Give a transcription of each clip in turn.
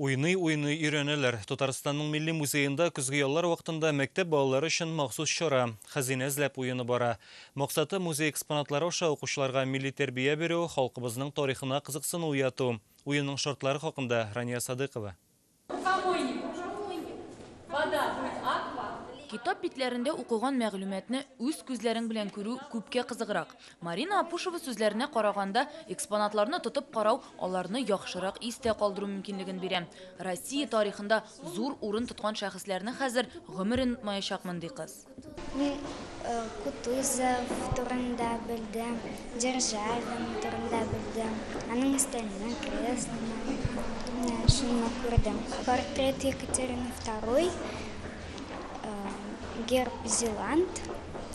Уйный-уйный өйрәнәләр. Татарстанның Милли музеенда көзге яллар вакытында мәктәп балалары өчен махсус чара, Хәзинә эзләп уены бара. Максаты, музей экспонатлары аша укучыларга милли тәрбия бирү, халкыбызның тарихына кызыксыну уяту. Уенның шартлары хакында, Рания Садыйкова. Китап битләрендә укыган мәгълүматны үз күзләрең белән күрү күпкә кызыграк. Марина Апушева сүзләренә караганда, экспонатларны тотып карау аларны яхшырак истә калдыру мөмкинлеген бирә. Россия тарихында зур урын тоткан шәхесләрне хәзер гомерен онытмаячакмын, ди кыз. Мин Кутузов турында белдем, Державин турында белдем, аның өстәленнән креслоны, менә шуны күрдем. Портрет Екатерины второй, герб Зеланд,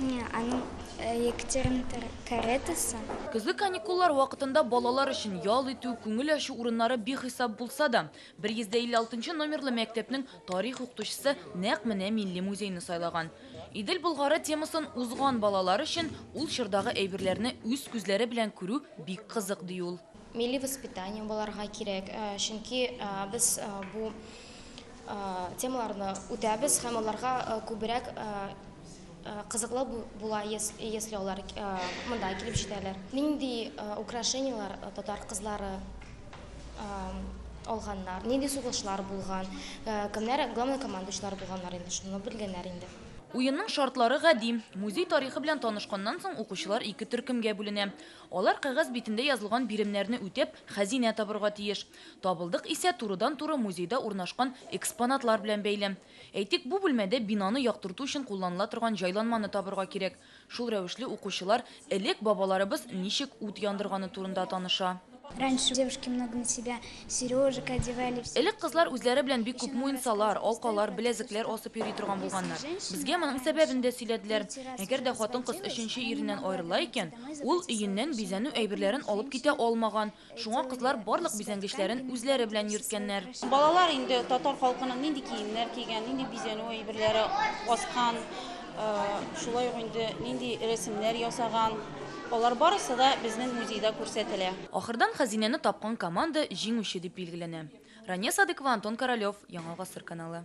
аның Екатерина каретасы. Көзге каникуллар вакытында балалар өчен ял итү, күңел ачу урыннары бихисап булса да, 156 нчы номерлы мәктәпнең тарих укытучысы нәкъ менә милли музейны сайлаган. Идел Болгары темасын узган балалар өчен ул чордагы әйберләрне үз күзләре белән күрү бик кызык, ди ул. Милли воспитание булырга кирәк, чөнки без бу темаларны үтәбез һәм аларга күбрәк Кызыклы була если алар монда килеп җитәләр. Нинди украшенияләр татар кызлары алганнар, нинди сугышлар булган, кемнәр главнокомандующийлар булганнар инде, шуны белгәннәр инде. Уенның шартлары гади. Музей тарихы белән танышканнан соң укучылар ике төркемгә бүленә. Алар кәгазь битендә язылган биремнәрне үтәп, хәзинә табырга тиеш. Табылдык исә турыдан-туры музейда урнашкан экспонатлар белән бәйле. Әйтик, бу бүлмәдә бинаны яктырту өчен кулланыла торган җайланманы табырга кирәк. Шул рәвешле укучылар элек бабаларыбыз ничек ут яндырганы турында таныша. Раньше девушки много на себя сережек одевали. Элек кызлар үзләре белән бик күп муенсалар, алкалар, беләзекләр асып йөри торган булганнар. Безгә моның сәбәбен дә сөйләделәр. Әгәр дә хатын-кыз өченче иреннән аерыла икән, ул өеннән бизәнү әйберләрен алып китә алмаган, Шуңа кызлар барлык бизәнгечләрен үзләре белән йөрткәннәр. Балалар инде татар халкының нинди киемнәр кигән, нинди бизәнү әйберләре аскан, шулай ук инде нинди рәсемнәр ясаган, алар барысы да безнең музейда күрсәтелә. Ахырдан хәзинәне тапкан команда җиңүче дип билгеләнә. Рания Садыкова, Антон Королев, Яңа гасыр каналы.